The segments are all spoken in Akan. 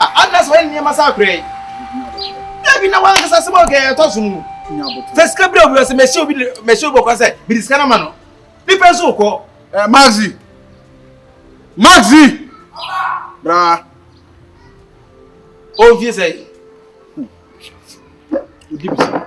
A Anna sɛ wayɛ ne nneɛma saa koraa yi? Dabi, na wankasa asɛm a ɔka yɛ ɛtɔ so no mu. Fa sika brɛ obi, ɔsɛ mɛhyɛ obi mɛhyɛ obi ɔkwan sɛ mede sika no ma no. Ne pɛ nso wokɔ. Ɛ Maxi! Maxi! Bra! Ɔmfie sɛ yi. Odi bisa.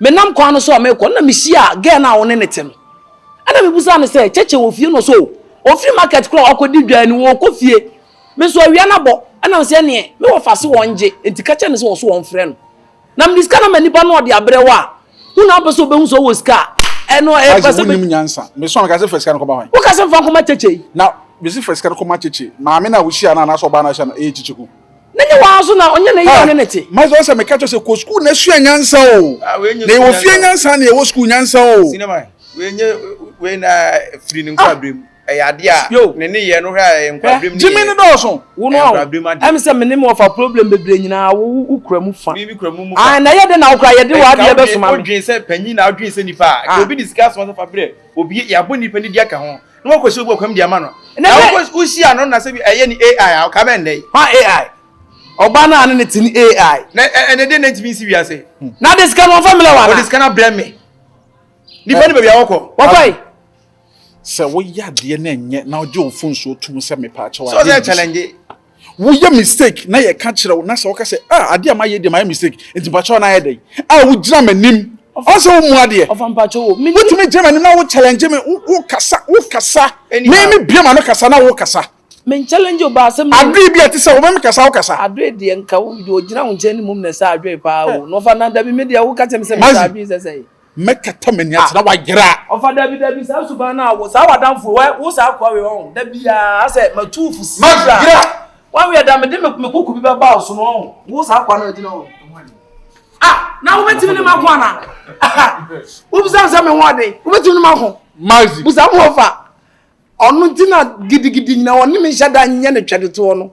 Menam kwan no so a merekɔ no na mihyiaa girl no a wo ne no te no. Ɛna mibisaa no sɛ, Cheche wɔ fie? Na ɔse, Oh, ofi market koraa a ɔkɔdi dwan no, ɔɔkɔ fie. Me nso awia no abɔ, ɛna ɔse, Ɛneɛ, me wɔfa se wɔngye, enti ka kyerɛ no sɛ ɔso ɔmfrɛ no. Na mede sika no ama nipa no na ɔde abrɛ wo a, wo na wopɛ sɛ obehu sɛ ɔwɔ sika a, ɛno ɛyɛ pɛ sɛ obe. Isaac, wonnim nyansa. Me so a meka sɛ fa sika no kɔma hwan? Woka sɛ mfa nkɔma Cheche yi. Na mese fa sika no kɔma Cheche. Maame no a wuhyiaa no anaasɛ ɔbaa no a wohyiaa no, ɛyɛ Cheche Ku. ne nye wɔn nso na ɔnyɛ ne yɛ ɔne ne te. maze ɔsɛ meka kyerɛ sɛ kɔ sukuu na esua nyansa o ah, na yɛwɔ fie nyansa na yɛwɔ sukuu nyansa o. sinima wei nye wei na firi ne ah. nkwabrem ɛyɛ adeɛ a ne ne yɛ no hwɛ a ɛyɛ nkwabrem ne yɛ gyimi ne dɔɔso wo no awo ɛm sɛ mene mu ɔfa problem bebree nyinaa wo wo kura mu fa mi mi kura mu mu fa ah na yɛ de na okura yɛ de wɔ adeɛ bɛ soma mi odwen sɛ panyin na odwen sɛ nipa a obi ne sika soma sɛ fa brɛ obi yabɔ nipa ne di aka ho na wakɔsi obi ɔkwam de ama no na wohyia no na sɛ bi ɛyɛ ne ai a ɔka bɛn dɛ hɔ ai ɔba no a ne ne te ne ai na ɛne de na ntumi nsi wiase hmm. na de sika no ɔmfa mmerɛ wa ɔde sika no abrɛ me nipa ne baabi a wɔkɔ wɔkɔe sɛ woyɛ adeɛ no ɛnyɛ na wogye wo mfonsuo tom sɛ mepaakyɛw adeɛ sɛ ɔsɛ challenge Woyɛ mistake na yɛka kyerɛ wo na sɛ woka sɛ ah adeɛ a mayɛ deɛ mayɛ mistake nti mpakyɛw na ayɛ dɛn a wogyina m'anim ɔsɛ wo mu adeɛ wotumi gyina m'anim na wo challenge me wo kasa wo kasa me me bie ma no kasa na wo kasa men challenge wo baasɛ me adwe bi a te sɛ wo me kasa wo kasa adwe deɛ nka wo gyina wo nkyɛn ne mum na sɛ adwe paa o na ɔfa na dabi me deɛ wo ka kyerɛ me sɛ me sa adwe sɛ sɛ mɛkata m'ani ase na wayera. Ɔfa dabi dabi saa suban no a saa w'adamfo wɛ wo saa akoa wei ɔho da biara sɛ matu fo si bra wawea da mede me koko bi bɛba wo so no ɔho wo saa akoa no agyina hɔ ah na wobɛtumi ne mako ana wobisa sɛ me ho ɔden wobɛtumi ne mako mazi busa mo ɔfa ɔno nti na gidigidi nyina ɔne me nhyɛ da nyɛ ne twɛdetoɔ no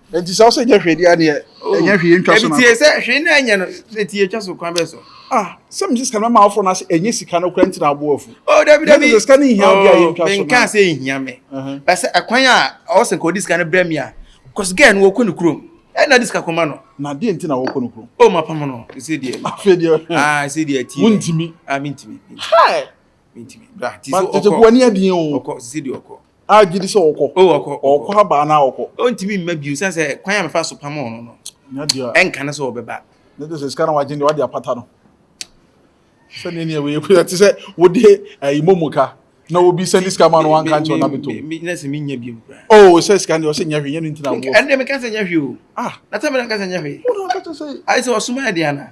Enti sɛ ɔsɛ nyɛ hwee deɛ adeɛ oh. ɛnyɛ hwee ntwa so na. Ebi tie sɛ hwee na ɛnyɛ no sɛ tie twa so kwan bɛ so. Ah sɛ mi sika no ma afɔ na sɛ ɛnyɛ sika no kura ntina abo afu. O oh, dabi dabi. Yɛ sɛ sika no nhia bi a yɛ ntwa so na. Oh, Nka sɛ nhia mi. Uh-huh. Bɛsɛ ɛkwan a ɔsɛ nka ɔdi sika no brɛ mi a kɔsi gɛɛ no wɔkɔ ne kurom ɛna de sika kɔma no. na deɛ nti na wɔkɔ no kurom. o ma pam no ɛsɛ deɛ. afei deɛ. aa ɛsɛ deɛ ti. mo ntumi. aa mi ntumi. hi but tete ko ani adie o ɔkɔ sisi di ɔkɔ a gye di sɛ ɔkɔ o ɔkɔ ɔkɔ abaa na ɔkɔ ɔntumi mma bio sɛ sɛ kwan a mefa so pam ɔno no ɛnka no sɛ ɔbɛba ne de sɛ sika na wagye deɛ wade apata no sɛ ne neɛ wei ɛte sɛ wode ayi momo ka na obi sɛde sika ma no wanka nkyɛw na beto na sɛ menya bio o sɛ sika deɛ ɔsɛ nyɛ hwee nyɛ ne ntina boɔ ɛnde meka sɛ nyɛ hwee o ah na sɛ mena ka sɛ nyɛ hwee wo na ɔka kyɛ sɛ ayɛ sɛ ɔsoma ɛde ana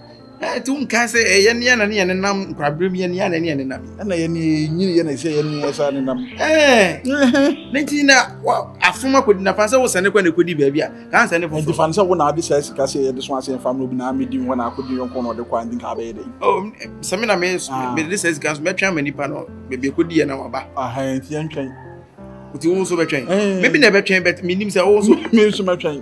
na ɛte wo nkae sɛ ɛyɛ ne ana ne yɛ nenam nkwaberem yɛ ne ana ne yɛ nenam ɛna yɛ ne nyini yɛ na ɛsɛ yɛ ne ɛsa nenam ɛɛ ne nti na afom akɔdi nafa sɛ wosɛ ne kɔ na ɛkɔdi baabi a kaa nsɛ ne foforo nti fa no sɛ wo na ade saa sika sɛ yɛde so asɛ mfa no obi na amedi hɔ na akɔdi yɔnko na ɔde kɔ andi nka abɛyɛ dɛ oh, sɛ me na me ah. mede saa sika so mɛtwɛn ama nipa no baabi ɛkɔdi yɛ na waba nti yɛntwɛn nti wo nso bɛtwɛn mebi na ɛbɛtwɛn bɛt menim sɛ wo nso me nso mɛtwɛn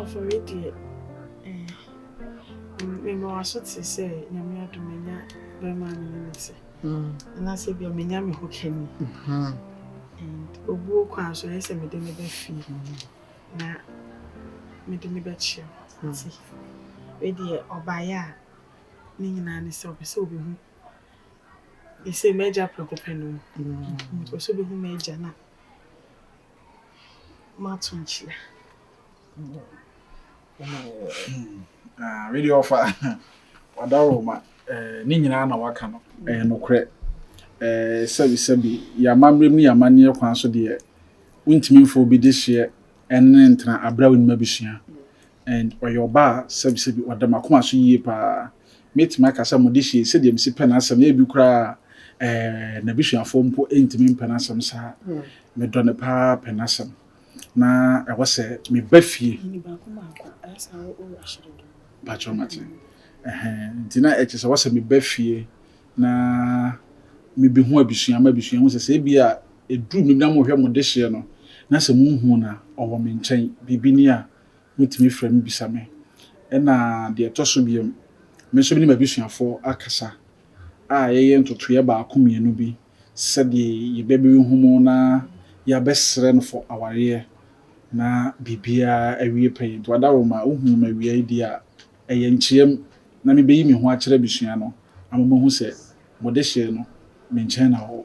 Afɔre deɛ, mema w'aso te sɛ nyame adom menya bɛrima ne ne ne se. Anaasɛ bia menya me ho kani. And obuo kwan so ɛyɛ sɛ mede ne bɛfie na mede ne bɛkyerɛ. Nti, wei deɛ ɔbaeɛ a ne nyinaa ne sɛ ɔpɛ sɛ ɔbɛhu ɛsɛ m'agya prɛko pɛ no. Ɔpɛ sɛ ɔbɛhu m'agya na mato nkyerɛ. Wei deɛ ɔfa wadaro ma ne nyinaa na waka no ɛyɛ nokorɛ. Sɛbisɛbi yɛama mmerɛm ne yɛama nneɛ kwan so deɛ wontumi mfa obi de hyeɛ ɛne ntena abrɛ a wonim abusua. And ɔyɛ ɔbaa a sɛbisɛbi ɔda m'akoma so yie paa. Mɛtumi aka sɛ Modehyeɛ sɛdeɛ mesi pɛ n'asɛm no ebi koraa ɛɛ n'abusuafoɔ mpo ntumi mpɛ n'asɛm saa. Medɔ no paa pɛ n'asɛm na ɛwɔ sɛ meba fie. Ɛni baako baako ayɛ saa wɔ wo ahyere do. Mpakyɛw mate. Ɛhɛn nti na ɛkyɛ sɛ ɛwɔ sɛ meba fie na mebehu abusua ma abusua hu sɛ sɛ ebi a ɛduru me na mohwɛ Modehyeɛ no na sɛ monhuu no a ɔwɔ me nkyɛn biribi ni a Wobɛtumi frɛ me bisa me. Ɛna deɛ ɛtɔ so biom, me nso me ne m'abusuafoɔ akasa a yɛyɛ ntotoeɛ baako mmienu bi sɛdeɛ yɛ ba bi bɛhu mu na yɛabɛsrɛ no for awareɛ na biribiara awie pɛyɛ. Nti Wadaroma, wohuu me awia yi deɛ a, ɛyɛ nkyeɛm na me bɛyi me ho akyerɛ abusua no ama moahu sɛ mo dehyee no me nkyɛn na ɔwɔ.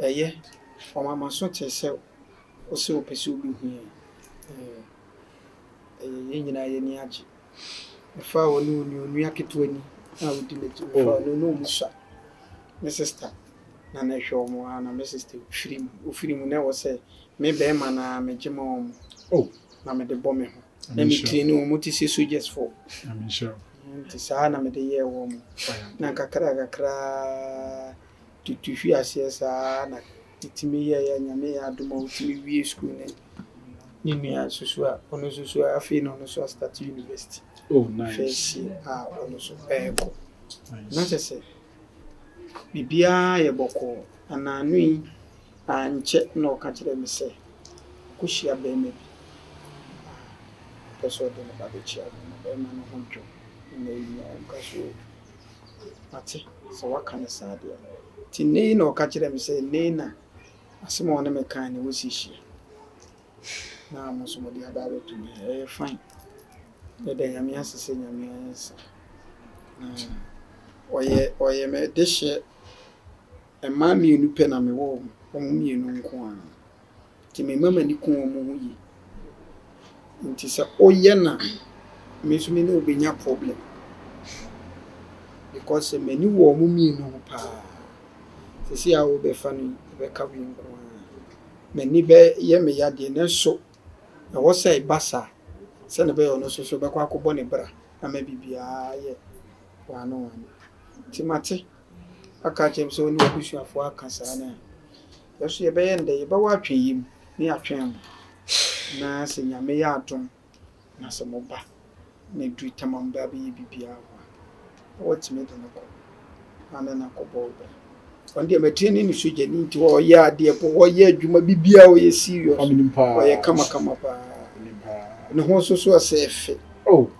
Ɛyɛ, ɔma m'aso te sɛ wo se ɔpɛ sɛ ɔbɛhu yɛn. Ɛyɛ, ɛyɛ, yɛn nyinaa yɛn ani agye. Mefaa ɔne ɔni onua ketewa ni a ɔdi m'akyi, mefaa ɔne ɔne ɔmu sua. Me sista na na ɛhwɛ wɔn aa na me sista firi mu, ɔfiri mu na ɛwɔ sɛ me bɛɛma no aa megye ma wɔn na mede bɔ me ho. na metie no wɔn te sɛ soldiers fo nti saa na mede yɛɛ wɔn na kakra kakra tutu hwi aseɛ saa na ɛtumi yɛyɛ nyame yɛ adom a wotumi wie school ne ne nua nso so a ɔno nso so afei na ɔno nso astate university oh, nice. first year a ɔno nso ɛrekɔ na kyɛ sɛ biribiara yɛ bɔkɔɔ anaano yi Ankyɛ na ɔka kyerɛɛ me sɛ ɔkɔhyia barima bi na ɔpɛ sɛ ɔde ne ba bɛkyia no. Na barima no ho dwo me na ɛnyaa animguasoɔ bi. Mate sɛ woaka no saa deɛ. Nti nnɛ yi na ɔka kyerɛɛ me sɛ nnɛ yi na asɛm a ɔne me kaeɛ no wɔsi hyia. Na mo nso mode aba abɛto me ha. Ɛyɛ fine. Yɛda Nyame ase sɛ Nyame ansa. Na ɔyɛ ɔyɛ me dehyeɛ. Mmaa mmienu pɛ na mewɔ wɔn, wɔn mmienu nko ara. Enti me mma m'ani ku wɔn ho yie. Enti sɛ woyɛ no a, me nso me ne wo bɛnya problem because m'ani wɔ wɔn mmienu ho pa ara. Seesei a worebɛfa no yi, ɛbɛka wei nko ara. M'ani bɛyɛ me yadeɛ nanso ɛwɔ sɛ ɛba saa sɛdeɛ ɛbɛyɛ a ɔno nso so bɛkɔ akɔbɔ ne bra ama biribiara ayɛ one one. Enti mate. aka akyerɛ me sɛ ɔne abusuafoɔ aka saa no a, yɛ nso yɛbɛyɛ no dɛ, yɛbɛwɔ atweneeɛ mu na yɛatwɛn mo. Na sɛ Nyame yɛ adom na sɛ moba na ɛduru tam a mobɛ abɛyɛ biribiara wɔ hɔ a, na watumi de no kɔ na ne no akɔbɔ bra. Ɔno deɛ matire ne ne sogyani nti ɔyɛ adeɛ po, ɔyɛ adwuma, biribiara ɔyɛ serious, ɔyɛ kamakama paa. Ne ho nso so ɔsɛ fɛ.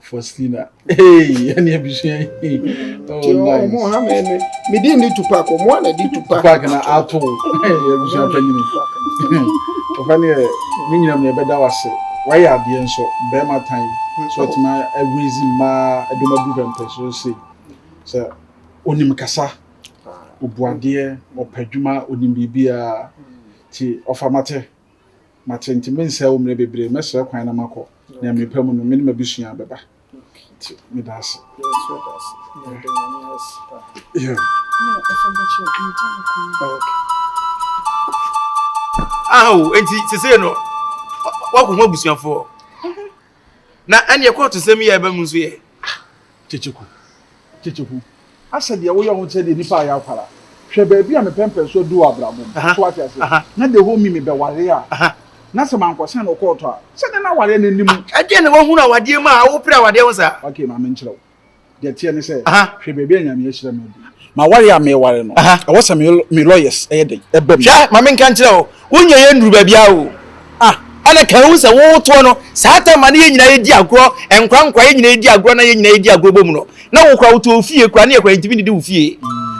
Faustina. Hey, any abusua. Oh, nice. Mo ha me me. Me di ni Tupac. Mo ana di Tupac. Tupac na ato. Hey, abusua panyini. Papa ne me nyina me be da wase. Why are the enso be my time. So it's my raise ma edoma du bem person say. So onim kasa. Obuadeɛ, ɔpɛ adwuma, onim biribiara. Ti ɔfa mate. Mate nti mensɛe wo mmerɛ bebree, mɛsrɛ kwan na makɔ, nea merepɛ mu no, me ne m'abusua bɛba. Nti meda ase. Ao, enti seesei no, woakɔhu abusuafoɔ? Na ɛneɛ kɔɔtosɛm yi a ɛba mu nso yɛ ah! Kyekyeku, Kyekyeku, asɛ deɛ woyɛ ho kyerɛ deɛ nipa ayɛ akwara. Hwɛ baabi a me pɛmpɛnsoɔ du wɔ abrabɔ mu. So wate aseɛ? Na the whole me mebɛware a, na sɛ mankɔsɛn no kɔɔto a, sɛdeɛ na awareɛ no nni mu. Ɛdeɛn na woahunu awadeɛ mu a woperɛ awadeɛ ho saa? Okay, ma menkyerɛ wo. deɛ teɛ ne sɛ hwɛ baabi a nyame ahyira me adi ma ware a meware no ɛwɔ sɛ me lawyers ɛyɛ den ɛbam hwɛ ma menka nkyerɛ o wonyɛ yɛ nnuru baabi a o ah ɛna ka hu sɛ wowotoɔ no saa ta ma ne yɛ nyinaa yɛdi agorɔ nkora nkora yɛ nyinaa yɛdi agorɔ na yɛ nyinaa yɛdi agorɔ bɔ mu no na wokora wotɔ ofie kora ne yɛ kora ntimi didi wo fie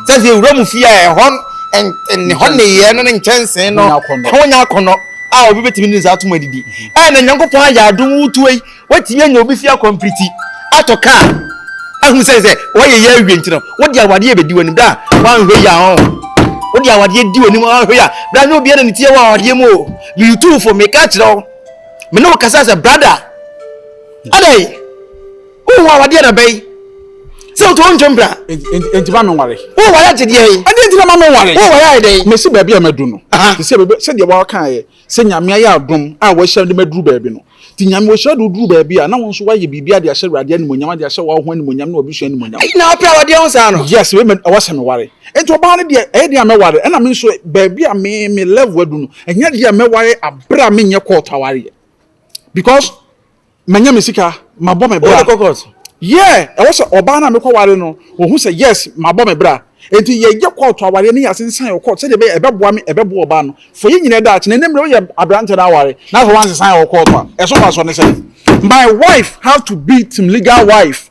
sɛ sɛ wura mu fie a ɛhɔ ɛhɔ nneyɛɛ no ne nkyɛnsee no ho nyɛ akɔnnɔ a obi bɛtumi ne ne saa atom adidi ɛna nyankopɔn ayɛ adom wotuo yi Woatumi anya obi fi akwampiriti atɔ kaa ahu sɛ sɛ wɔyɛ yɛ awie nti no wode awadeɛ bɛdi w'anim da a woanhwɛ yi a ɔn wode awadeɛ di w'anim ɔnhwɛ yi a bra nyɛ obiara na ne tie wɔ awadeɛ mu o meyutufo meka kyerɛ wo me ne wo kasa sɛ brada adɛn wohu awadeɛ na bɛyi sɛ wotɔ wo ntwam bra enti ma menware woware agye deɛ yi ɛdeɛ nti na ma menware woware ayɛ dɛn mesi baabi a madu no te sɛ sɛdeɛ wɔkaeɛ Sɛ Nyame ayɛ adom a wahyira de maduru baabi no nti, Nyame ɔhyira de woduru baabi a, na wo nso woayɛ biribiara de ahyɛ Awurade animuonyam, de ahyɛ w'aho animuonyam ne w'abusua animuonyam. Ɛyi na wopɛ a wɔdeɛ wo saa no? Yes, wei mɛ ɛwɔ sɛ me ware. Nti ɔbaa no deɛ ɛyɛ deɛ a mɛware, ɛna me nso baabi a me me level adu no, ɛnyɛ deɛ a mɛware aberɛ a menyɛ court awareɛ because. manya me sika mabɔ me bra yeah ɛwɔ sɛ ɔbaa no a mekɔ ware no wɔhu sɛ yes mabɔ me bra enti yɛyɛ kɔɔto awareɛ ne yɛase nsan wɔ kɔɔto sɛdeɛ ɛbɛyɛ ɛbɛboa me ɛbɛboa ɔbaa no fo yɛ nyina daakye na ne mmerɛ woyɛ aberantɛ no aware na afɔ wansesan wɔ kɔɔto a ɛso fa soɔ ne sɛ my wife have to be team legal wife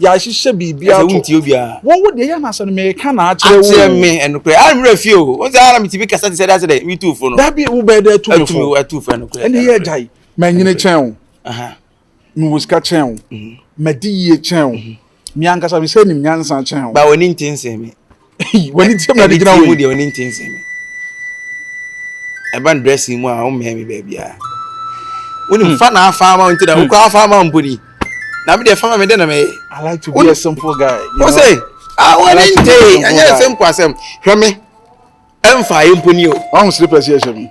yɛahyehyɛ biribi ato. Ɛsɛ wontie obiara. Wɔn wo deɛ yɛ anasɛ no meka na akyerɛ wo. Akyerɛ me ɛnokorɛ. Ara mmerɛ fie o. Wɔn sɛ ara metumi kasa te sɛ dasɛ dɛ metu fo no. Dabi wo bɛɛ dɛ tu me fo. Atumi atu fo ɛnokorɛ. Ɛne yɛ agya yi. Manyini kyɛn wo. Mewɔ sika kyɛn wo. Madi yie kyɛn wo. Me ankasa mesɛ nim nyansa kyɛn wo. Ba w'ani nte nsɛm yi. wani tirim na de gyina wei. ɛni deɛ wani nti nsɛm mi ɛba n dressing mu a wɔn mɛn mi baabi a wani hmm. fa na afa ama wɔn ti da okura hmm. afa ama mpo ni na mi deɛ fa ma mi dɛ na mɛ yɛ. I like to be a simple guy. o se ah wani nti ɛnyɛ simple asɛm hwɛ mi ɛnfa ayé mpo ni o. ɔn slippers yɛ hyɛ mi.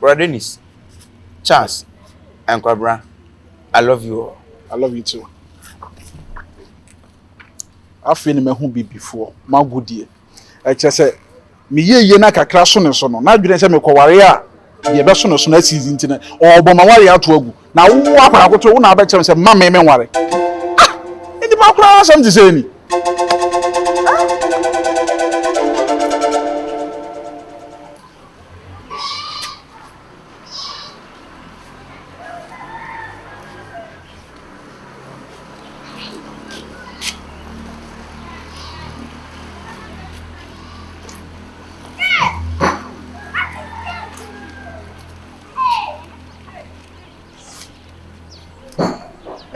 Bro Dennis Charles Ankwabra I love you oo. I love you too. Afei na mahu bibifoɔ m'agodie. Ɛkyerɛ sɛ me yieyie no akakra so ne so no, n'adwene sɛ mekɔware a deɛ ɛbɛso ne so no asi nti no, ɔrebɔ m'awareɛ ato agu. Na wo akwadaa koto, wo na abɛkyerɛ me sɛ mma me menware. Ah! Nnipa koraa asɛm te sɛ ni.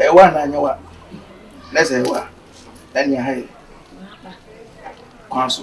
ɛwa na anyawa na sɛ ɛwa ɛne ahayɛ kwan so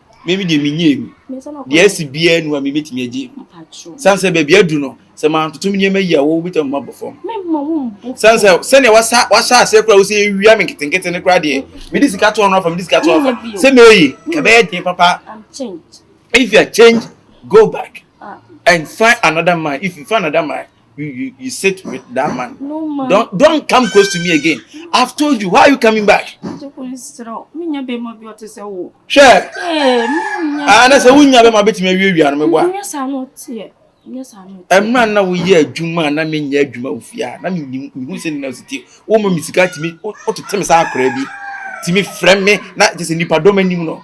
me me deɛ menyɛɛ mu deɛ asi biara nu a mebɛtumi agye mu sane sɛ baabi adu no sɛ mantotom nneɛma yi a wɔwobɛtumi ma bɔ fam sane sɛ sɛdeɛ wahyɛ aseɛ koraa wo sɛ ɛwia me nketenkete no koraa deɛ mede sika tɔɔ no afa mede sika tɔɔ afa sɛ mɛyi ka bɛyɛ den papa if you are change go back ah. and find another man if you find another man You, you, you sit with that man. No, ma. Don't, don't come close to me again. I've told you, why are you coming back? Sure. Ah, that's a winner, but my bit may be a member. Yes, I know. ɛmra na woyɛ adwuma na menyɛ adwuma ofie a na mehu sɛ nina siti woma me sika tumi wotete me saa akora bi tumi frɛ me na te sɛ nnipadɔm anim no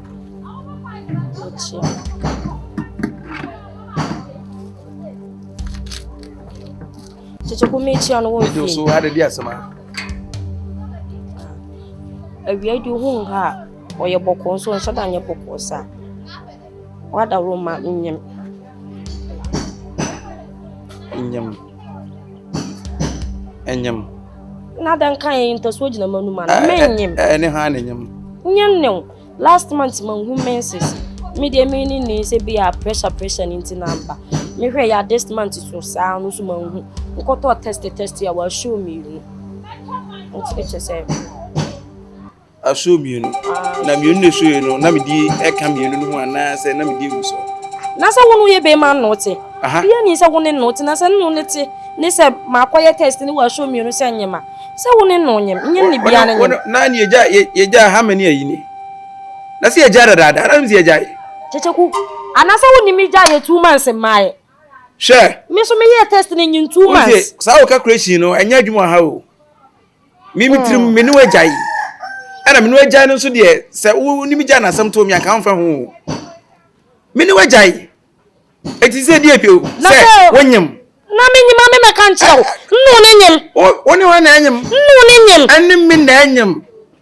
Tete ko mi kyia no wɔ fie. Nso ha de di asɛma. Awia di hu nka a ɔyɛ bɔkɔ nso nhyɛ da nyɛ bɔkɔ sa. Wada roma nyem. Nyem. ɛnyem na dɛn ka yɛ ntasuo gyina ma numa no menyem ɛne ha ne nyem nyem ne wo last month manhu menses medeɛ me ne ne sɛ bi a pressure pressure no nti na mba mehwɛ yɛ a this month so saa no so manhu nkɔtɔ test test a wɔahyɛ omienu nti kyɛ sɛ Asoɔ mmienu, na mmienu na ɛsoeɛ no, na medi ɛka mmienu no ho anaasɛ na medi awu so? Na sɛ wo ne woyɛ bɛrima ne wo te, bia ni sɛ wo ne no te, na sɛ ne no ne te ne sɛ makɔyɛ test ne wɔ asoɔ mmienu sɛ nyem a, sɛ wo ne no nyem, nyem ne bia ne nyem. Na ne yɛgya, yɛgya ha mani ayi ni, na sɛ yɛgya dadaada, na ne sɛ yɛgya ye. Kyekyeku, anaasɛ wo ne me gya yɛ two months mmaeɛ? Hwɛ. Me so meyɛ test ne nyin two months. Saa wo calculation no, ɛnyɛ adwuma ha o. Me me tirim me ne wagyae. Ɛna me ne wagyae no nso deɛ sɛ wonim gyae no asɛm to me anka womfa ho. Me ne wagyae. Ɛti sɛ deɛ pio sɛ wonyem. Na me nyim ame mɛka nkyerɛ wo. Nnu ne nyim. Wo ne hɔ na ɛnyem. Nnu ne nyim. Ɛne me na ɛnyem.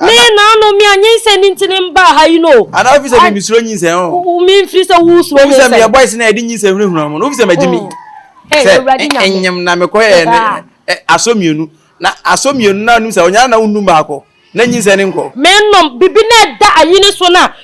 Me na ano me anyinsɛn ne nti ne mbaa ha yi no. Ana ofi sɛ me mi suro nyinsɛn o. Me nfiri sɛ wo suro nyinsɛn. Ofi sɛ me yɛ boys na yɛde nyinsɛn hunahuna mo no ofi sɛ me gye mi. Sɛ ɛnyɛm na me kɔ yɛ ne asɔ mmienu na asɔ mmienu na onum sɛ ɔnyana na onum baako na nyinsɛn ne nkɔ. Me nom bibi na ɛda anyini so na.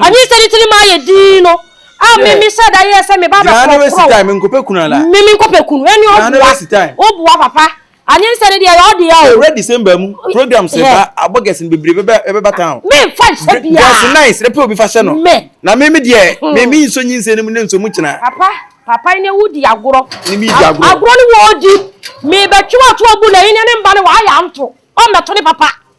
Anyi sɛ ne tirim ayɛ dinn no, a me me sɛ da yɛ sɛ me ba bɛ kɔrɔ kɔrɔ. Me nkɔpɛ kunu ala. Me me nkɔpɛ kunu. Ɛni o bua. O bua papa. Anyi sɛ ne deɛ yɛ ɔdi ya o. Ɛwura December mu program sɛ ba abɔ gɛsin bebree bɛbɛ ɛbɛba town. Me nfa nhyɛ bia. Gɛsin nan srɛ pɛ obi fa hyɛ no. Me. Na me me deɛ me me nso nyi nsɛn mu ne nso mu kyina. Papa papa ne wo di agorɔ. Ne mi di agorɔ. Agorɔ ne wo di. Me bɛ twɛ ɔtɔ bu na yi ne ne mba ne wa ayɛ anto. Ɔmɛ to ne papa.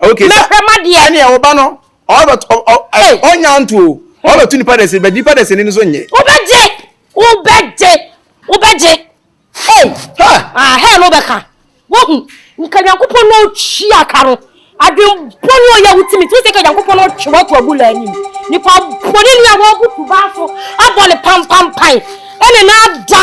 okay sɛ mɛhwɛ ma deɛ ɛne ɛwɔ ba no ɔbɛt ɔnya nto o ɔbɛto nipa dɛsɛ bɛ nipa dɛsɛ ni no so nye. wobɛgye wobɛgye wobɛgye ei ah hɛn no wobɛka wohu nka nyankopɔn na ɔtwia ka no adwembɔ ne ɔyɛ wotumi nti wosɛ ka nyankopɔn na ɔtwe woato agu la anim nipa bɔne ni a wɔabutu baa so abɔ ne pampampan ɛne na ada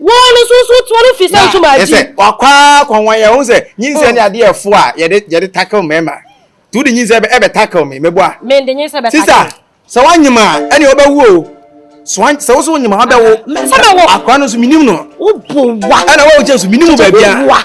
Wɔn no so so tuma no fi sɛ ntoma adi. Ɛsɛ wakɔ akɔ wɔn yɛ wɔn sɛ nyinsɛ ne adeɛ ɛfo a yɛde yɛde tackle mɛɛma. Ti wodi nyinsɛ ɛbɛ ɛbɛ tackle mi mɛbu a. Mɛ ndi nyinsɛ bɛ tackle. Sisa sɛ wanyima ɛni ɔbɛ wu o. So an sɛ woso wanyima ɔbɛ wo. Mɛ sɛ bɛ wɔ. Akora no so minim no. Wo bu wa. Ɛna wɔn kyɛn so minim baabi a.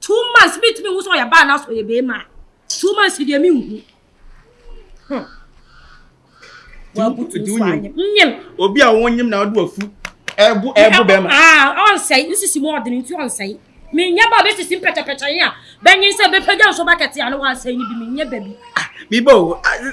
two months mi ntumi nhu sɛ ɔyɛ baa anaasɛ ɔyɛ bɛrima two months mi deɛ mi nhu. Hmm. wabutu nso anyem nyem. obi a wɔn nyem na ɔde wafu ɛbu ɛbu bɛrima. aa ɔnsɛe nsisi mu ɔdini nti ɔnsɛe mi nyɛ ba bɛ sisi mpɛtɛpɛtɛ yi a bɛnyin sɛ bɛpɛgya nso bakɛte a ne wɔasɛe ne bi mi nyɛ bɛbi. Ah, mi bɔ o ah,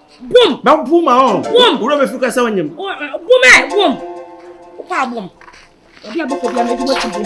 Bom. Bɛ bom a ɔn. Bom. Wura bɛ fi ka sɛ ɔnyem. Bom ɛ bom. Ɔkɔ a bom. Ɔbi a bɛkɔ bi a mɛdi mɔkyi bom.